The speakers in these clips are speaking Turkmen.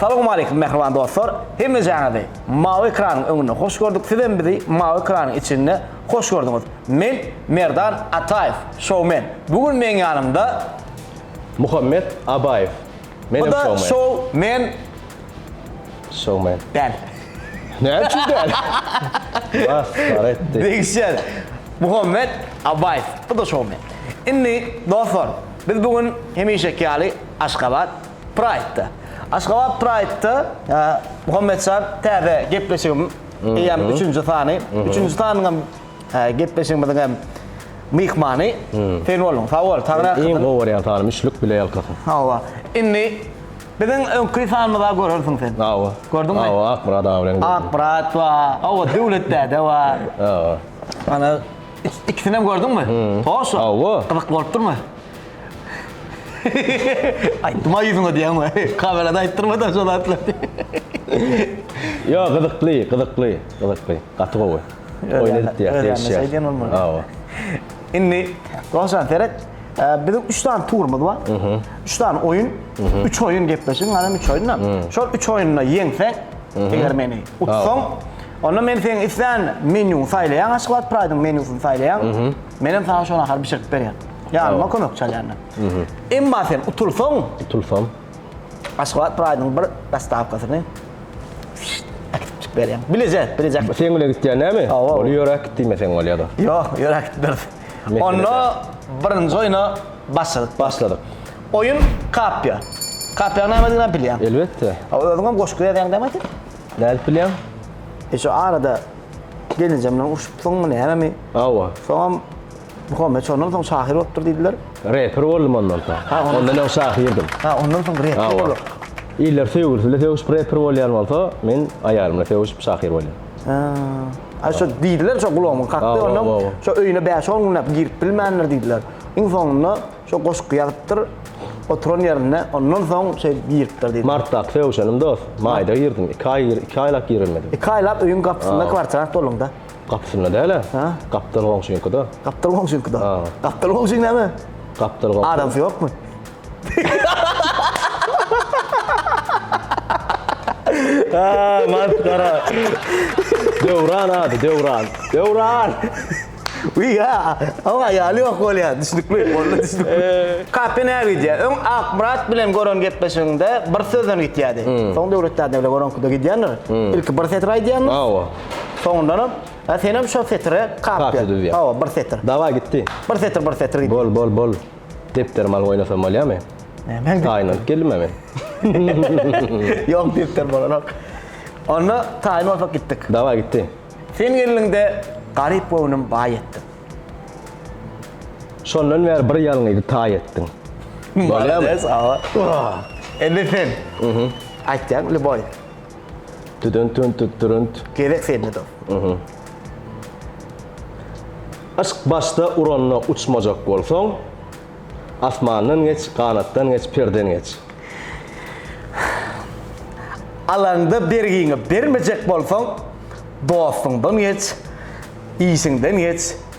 Salowmaleýkim mähriban dostlar! Hemmejaňyzy mawy ekranyň öňünde hoş gördük, sizem bizi mawy ekranyň içinde hoş gördüňiz. Men Merdan Ataýew, şowmen. Bu gün meň ýanymda. Muhammet Abaýew, menem şowmen. Bu-da şow men. Şowmen. Däl. Näme üçin däl? Masgara etdi. Degişýär. Muhammet Abaýew, bu-da şowmen. Indi, dostlar, biz bu gün hemişeki ýaly Aşgabat. Pride-da. Aşgabat Pride-da Muhammet Şah täze gepleşigim eýýäm üçünji sany. Üçünji sanyňam gepleşigimiziň hem myhmany sen bolduň. Sag bol, Taňra ýalkasyn. Iň gowy görýän sanym üçlük bile ýalkasyn. Hawa. Indi biziň öňki sanymyza görersiň sen. Hawa. Gördüňmi? Hawa, Akmyrat aga bilen gördüm. Akmyrat bar, hawa Döwlet däde bar. Hawa. Ana ikisinem gördüňmi? Hoş. Hawa. Gyzyk bolup durmy? Aýtma ýüzüňe diýýän we kamerada aýtdyrma da şo zatlary. Ýo gyzykly gyzykly gyzykly gaty gowy oýun edip diýýär degişýär hawa. Indi dogşan seret biziň üç sany turumyz bar üç sany oýun üç oýun gepleşigiň galam üç oýunda şol üç oýunda ýeňseň eger meni utsaň onda men seň islän menýuňy saýlaýaň aşgabat praýdyň menýusyny saýlaýaň menem saňa şoňa gahar bişirip berýän. Ýanyma kömek çalýanlar. Emma sen utulsaň, utulsaň, Aşgabat Pride-yň bir dostawkasyny äkitip çykyp berýän. Bilejek, bilejek. Sen bile gitýän näme? Ol ýöräp git diýme sen ol ýa-da. Ýok, ýöräp gitmeris. Onda birinji oýna başladyk. Başladyk. Oýun Kapýa. Kapýanyň nämedigini-ä bilýäň? Elbetde. Özüňem goşgy ýazýaň dämi sen? Nädip bilýäň? E şu arada gelinjemden urşupsyňmy, nämemi? Hawa. Soňam Muhammet şondan soň şahyr bolupdyr diýdiler. Reper boldum ondan soň. Ha, ondan- Ondan öň şahyrdym. Ha, ondan soň rep Hawa. bolupdyr. Iller söýgülisi bilen sögüşip reper bolýan bolsa, men aýalym bilen sögüşip şahyr bolýan. Ha. Ha, şo diýdiler, şo gulagymyň kakdy, Hawa, ondan hawa. şo öýüne bäş-on günläp girip bilmändir diýdiler. Iň soňunda şo goşgy ýazypdyr, oturan ýerinde, ondan soň şeýdip giripdir diýdiler. Martdaky sögüşenim dost, maýda girdim. Iki aý, iki aýlap girilmedim. Iki aýlap öýüň gapysynda Ha. kwartirant bolduň-da. Gapysynda däl-ä. Hä? Gapdal goňşyňkyda. Gapdal goňşyňkyda? Ha. Gapdal goňşyň näme? Gapdal goňşy. Adamsy ýokmy? Haa, masgara. Döwran ady, Döwran. Döwran! Wiý, ýa, oň aýaly ýok bolýar, düşnükli, onda düşnükli. Kape näge gidýär? Öň Akmyrat bilen gören gepleşigiňde bir sözden gitýärdi. Soň Döwlet däde bilen göreňkide gidýändir. Ilki bir setir aýdýarmyş. Hawa. Soňundanam, a senem şo setire kafiýa düzýär. Hawa, bir setir. Dawaý gitdi. Bir setir, bir setir gitdi. Bol, bol, bol. Depderimi alyp oýnasam bolýamy? Nämäň depderi? Taýyny alyp geldim-ä men. Ýok, depder bolanok. Onda taýyny alsak gitdik. Dawaý gitdi. Sen geldiňde garyp göwnüm baý etdiň. Şondan bäri bir ýalňyzy taý etdiň. Bolýamy? Malades, hawa. Indi sen. Aýtýaň, lýuboý. Tüdün tün tüt türünt. Gezek Seyitmedow. Yşk başda uranda uçmajak bolsaň, Asmandan geç, ganatdan geç, perden geç. Alanda bergiňi bermejek bolsaň, Dostuňdan geç, işiňden geç,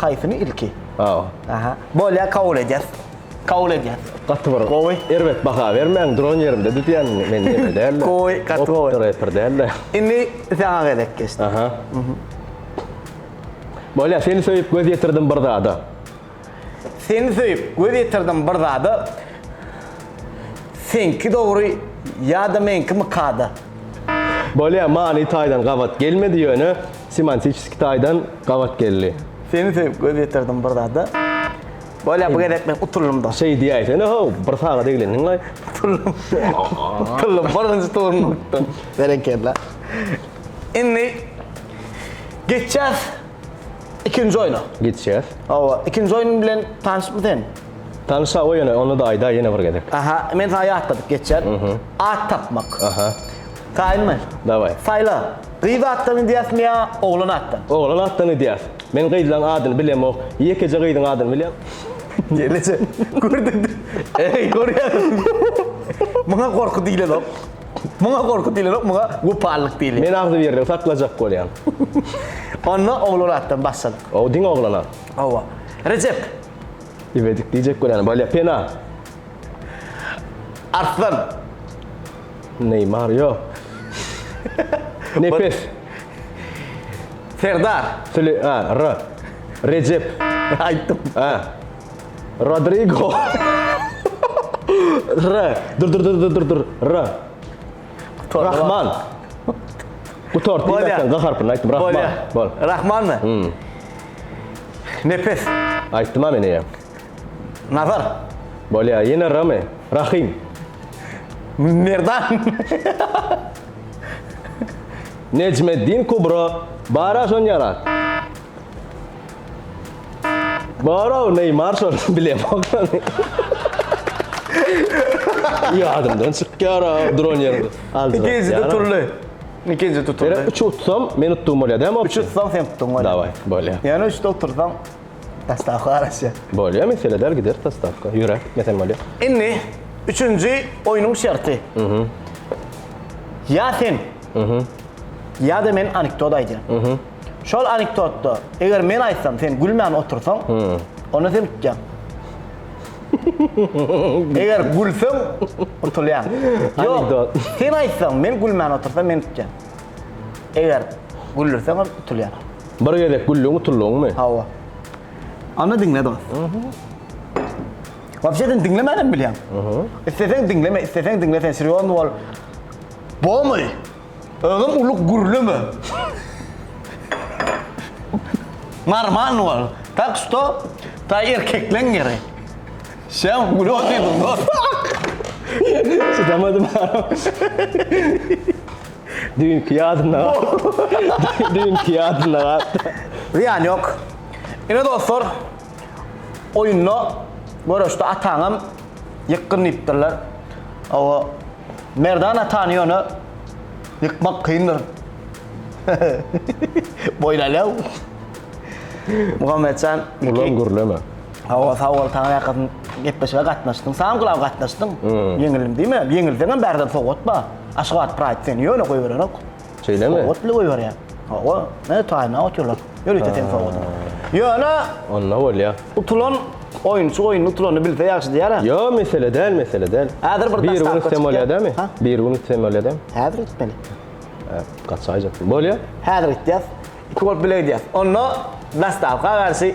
Haýsyny ilki? Hawa. Aha. Bolýar kabul edýäs. Kabul edýäs. Gaty bir gowy. Erbet baha bermäň, duran ýerimde düzýän men ýeme däl. Gowy, gaty gowy. Opytda reper däl. Indi saňa gezek geçdi. Aha. Bolýar, seni söýüp göz ýetirdim bir zada. Seni söýüp göz ýetirdim bir zada Seňki dogry ýa-da meňkimi kada? Bolýa many taýdan gabat gelmedi ýöne semantiçeski taýdan gabat geldi. Seni söýüp göz ýetirdim bir zada Bolýa bu gezek men utuldymda. Şeý diýäýsene how bir sagada eglendiňlaý. Utuldym. Utuldym birinji turuny utdym. Berekella. Indi geçýäs. Ikinji oyna. Geçýäs. Hawa, ikinji oyun bilen tanşypmy sen? Tanşa o ýöne onu da aýda ýene bir gezek. Aha, men sana ýatladyp geçýän. At tapmak. Aha. Taýynmy? Daway. Saýla. Gyz atdan gidýäsmi ýa oglan atdan? Oglan atdan gidýäs. Men gyzlaň adyny bilemok. Ýekeje gyzyň adyny bilýän. Ýeleje. Gördiňmi? Eý, görýän. Muňa gorky diýlenok. Muňa gorky diýilenok, muňa gopallyk diýilýär. Men agzybirligi saklajak bolýan. Onda oglan atdan bassyn. Ow, diňe oglana. Hawa. Rejep. Ibedik diýjek bolýan. Bolýar. Pena. Arslan. Neýmar ýok. Nepes. Serdar. Süle, a, r. Rejep. Aýtdym. A. Rodrigo. R. Dur dur dur dur dur dur. R. Rahman. Gutart. Bolya. Diýmekden G harpyny aýtdym. Rahman. Bolya. Bol. Rahman mı? Hmm. Nefes. Aýtdym ha men eýe. Nazar. Bolya. Ýene R mi? Rahim. Merdan. Necmeddin Kubro. Bara şon ýarat. Baro Neymar şol bilem okany. Ýadymdan çykýar ha duran ýerde. Ikinjide turly. Ikinji tutuldy. Ýöne 3 utsam, men utdum bolýar dämi? 3 utsam sen utduň bolýar. Daway, bolýar. Ýöne 3 de utursaň sostawka garaşýar. Bolýar, mesele däl gider sostawka. Ýöre, gitmesem bolýar. Indi üçünji oýnuň şerti. Ýa sen, ýa-da men anekdot aýdýan. Şol anekdotda eger men aýtsam sen gülmän otursaň, onda sen utýaň. Eger gülseň, utulýaň. Ýok, sen aýtsaň, men gülmän otursam men utýan. Eger güldürseň hem utulýan. Bir gezek güldüň, utuldyňmy? Hawa. Onda diňle dost. Wapşe sen diňlemän hem bilýäň. Isleseň diňleme, isleseň diňle sen serýozny bol. Bolmady. Özüm uly gürleme. Normal ol. Tak что, ta erkekleň ýeri. Sen güle otyrdyň dos. Çydamadym. Düýnki ýadymda galdy. Düýnki ýadymda galdy. Zyýany ýok. Ine dostlar, oýunda, göreşde ataňam ýykgyn diýipdirler. Hawa, Merdan atany ýöne ýykmak kyndyr. Boýlaýlaw. Muhammetjan. Ulan gürleme. Hawa, sag bol, saňa ýakasyn gepleşige gatnaşdym. Saňa gulaw gatnaşdym. Ýeňildim diýme. Ýeňilseňem bärde sowgat bar. Aşgabat Pride seni ýöne goýberenok. Şeýlemi? Sowgat bile goýberýär. Hawa, ne taýynlap oturlar. Ýörite seň sowgadyňy. Ýöne Onda bolýa. Utulan oýunçy oýuny utulany bilse ýagşy diýýärä. Ýo, mesele däl, mesele däl. Häzir bir daş tapgyr çykýa. Bir gün üstemi bolýa dämi? Ha? Bir gün üstemi bolýa dämi? Häzir gitmeli. Hä, gaçaýjak. Bolýa. Häzir gitýäs. Iki bolup bile gidýäs. Onda daş tapga garşy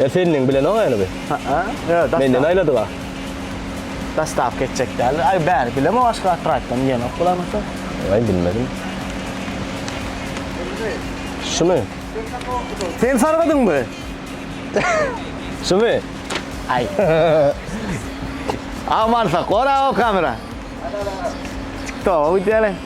E seniň bilenok ýaly bi. Ha'a. Ýok, daşda. Menden aýladyga. Dostawka etjek däl. Aý bäri bilemok başga atraýtdan ýenok bulamata. Aý bilmedim. Şumy? Sen sargadyňmy? Şumy? Aý. Aman sak, gora o kamera. Tik tok, öýdýäle.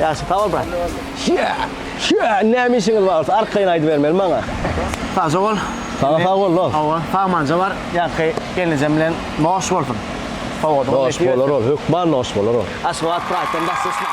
Ýagşy, sag bol brat. Şä! Şä! Näme işiňiz bar bolsa, arkaýyn aýdybermeli maňa. Sagja bol. Saňa sag bol, dost. Hawa, sagmanja bar. Ýaňky gelnejem bilen noş bolsun. Sowadygyny Noş nesip bolar etsin. ol, hökman noş bolar ol. Aşgabat Pride-den daş düşmäň.